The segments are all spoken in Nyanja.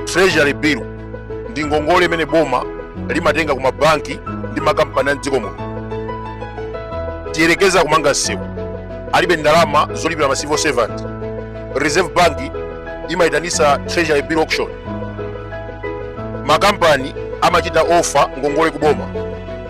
treasury bill ndi ngongole imene boma limatenga ku mabanki ndi makampani a mdziko muno tiyerekeza kumanga msewu alibe ndalama zolipira ma civil servant reserve bank imayitanisa treasury bill auction makampani amachita offer ngongole kuboma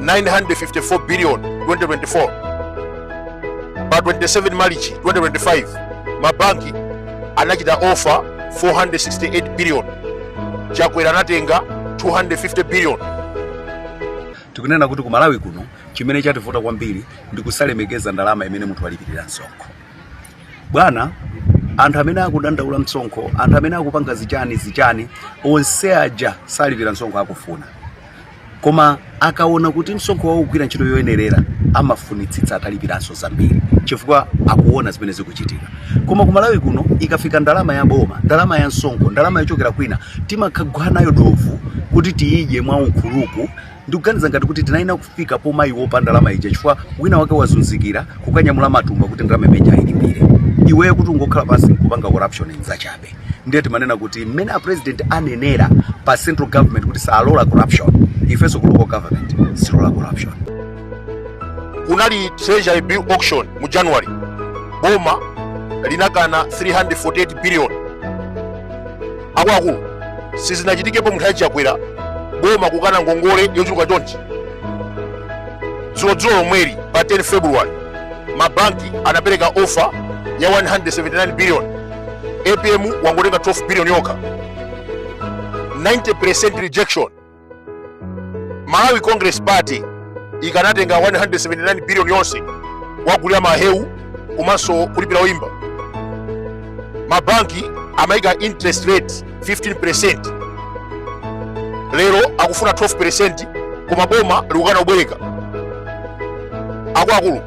954 billion 2024 pa 27 marichi 2025 mabanki anachita offer 468 billion chakwera anatenga 250 billion tikunena kuti ku malawi kuno chimene chativuta kwambiri ndi kusalemekeza ndalama imene munthu walipirira msonkho bwanawe anthu amene akudandaula msonkho anthu amene akupanga zichani zichani onse aja salipira msonkho akufuna koma akaona kuti msonkho wawo ukugwira ntchito yoyenerera amafunitsitsa atalipiranso zambiri chifukwa akuona zimene zikuchitika koma ku malawi kuno ikafika ndalama ya boma ndalama ya msonkho ndalama yochokera kwina timakhagwa nayo dovu kuti tiyidye mwa ukhuluku ndikuganiza ngati kuti tinayenera kufika pomaiopa ndalama ija chifukwa wina wake wazunzikira kukanyamula matumba kuti ndalama imene ija ilipire iweyo kuti ungokhala pansi nkupanga corruption nzachabe ndiye timanena kuti mmene a president anenera pa central government kuti salola corruption ifenso ku local government sitilola corruption kunali treasury bill auction mu january boma linakana 348 billion akuluakulu sizinachitikepo mu nthawi ya chakwera boma kukana ngongole yochuluka chonchi dzulodzulo lomweli pa 10 february mabanki anapereka offer ya 179 billion apm wangotenga 12 billion yokha 90% rejection malawi congress party ikanatenga 179 billion yonse kugulira mahewu komanso kulipira oyimba mabanki amayika interest rate 15% lero akufuna 12% koma boma likukana kubwereka akuluakulu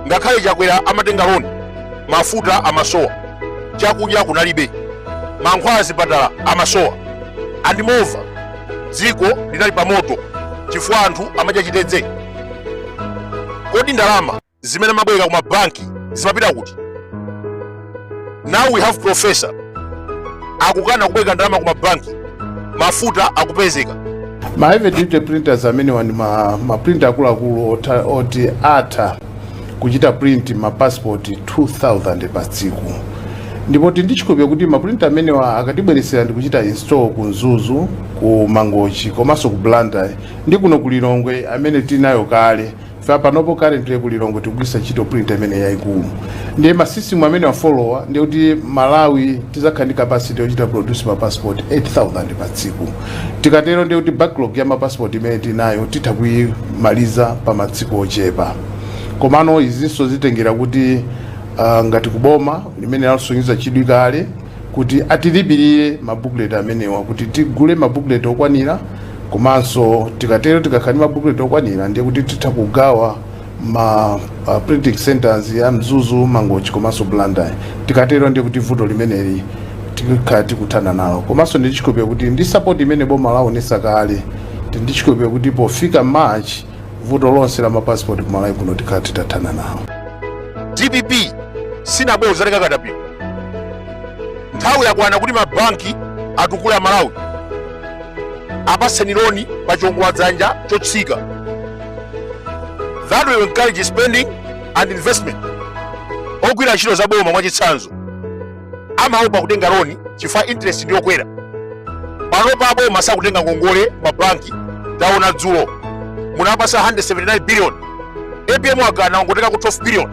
ngakhale chakwera amatenga loan mafuta amasowa chakudya kunalibe mankhwala m'zipatala amasowa and moreover dziko linali pamoto chifukwa anthu amadya chitedze kodi ndalama zimene amabwereka kuma banki zimapita kuti now we have professor akukana kubwereka ndalama kuma banki mafuta akupezeka ma heavy duty printers amenewa ndi ma, ma printer akuluakulu ota- oti atha kuchita print ma passport 2000 pa tsiku ndipo tili ndi chikhulupiriro kuti ma printer amenewa akatibweretsera ndi kuchita install ku mzuzu ku mangochi komanso ku blantyre ndi kuno ku lilongwe amene tinayo kale Ife apanopo currently ku Lilongwe tikugwiritsa ntchito printer imene yaikulu. Ndiye ma system amenewa followa ndiye kuti Malawi tizakhala ndi capacity yochita produce ma passport 8000 pa tsiku. Tikatero ndiye kuti backlog ya ma passport imene tinayo titha kuimaliza pa matsiku ochepa. Komano izinso zitengera kuti uh, ngati kuboma limene lasonyeza chidwi kale kuti atilipirire ma booklet amenewa kuti tigule ma booklet okwanira komanso tikatero tikakhala ndi ma booklet okwanira ndiye kuti titha kugawa ma uh, printing centers ya Mzuzu, Mangochi komanso Blantyre. Tikatero ndiye kuti vuto limeneli tikhala tikuthana nalo komanso ndi chikhulupiriro kuti ndi support imene boma laonesa kale ndi chikhulupiriro kuti pofika March vuto lonse la mapasipoti ku malawi kuno tikhala titathana nawo dpp sinabwere kuzatenga katapira nthawi yakwana kuti mabanki atukule amalawi apatseni loni pa chiongola dzanja chotsika that will encourage spending and investment ogwira ntchito za boma mwachitsanzo amaopa kutenga loni chifukwa interest ndi yokwera panopa aboma sakutenga ngongole m'mabanki taona dzulo munapasa 179 billion apm wakana wangotengako 12 billion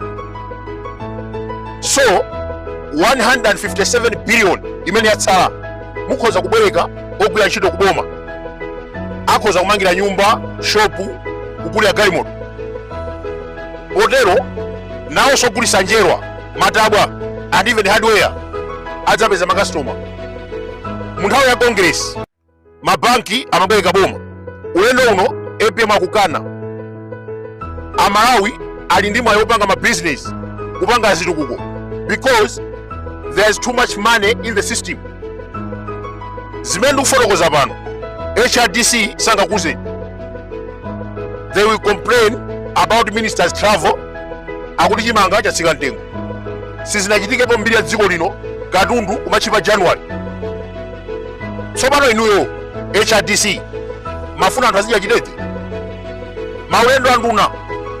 so 157 billion imene yatsala mukhoza kubwereka ogwira ntchito ku boma akhoza kumangira nyumba shopu kugulira galimoto potero nawonso ogulitsa njerwa matabwa and even hardware adzapeza makastoma mu nthawi ya congress mabanki amabwereka boma ulendo uno apm akukana amalawi ali ndi mwayi wopanga mabizinesi kupanga zitukuko because there is too much money in the system zimene ndikufotokoza pano hrdc sangakuuzeni they will complain about ministers travel akuti chimanga chatsika mtengo sizinachitikepo mbiri ya dziko lino katundu kumatchipa january tsopano inuyo hrdc mumafuna anthu azidya chitete maulendo anduna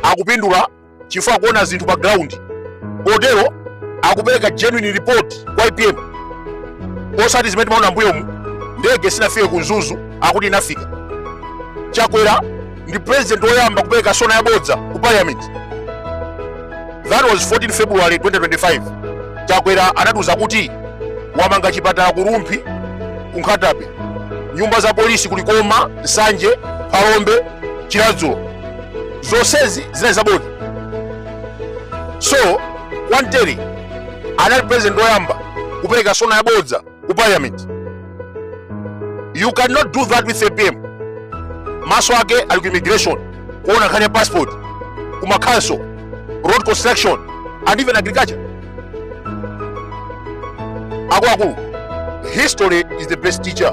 akupindula chifukwa akuona zinthu pa ground kotero akupereka genuine report kwa apm osati zimene timaona mbuyomu ndege sinafike ku mzuzu akuti inafika chakwera ndi president woyamba kupereka sona yabodza ku parliament that was 14 february 2025 chakwera anatiuza kuti wamanga chipatala ku rumphi ku nkhata bay nyumba za polisi ku likoma nsanje phalombe chiradzulu zonsezi zinali zabodza so kwantere anali president woyamba kupereka sona yabodza ku parliament you cannot do that with apm maso ake ali ku immigration kuona nkhani ya passport ku macouncil road construction and even agriculture akuluakulu history is the best teacher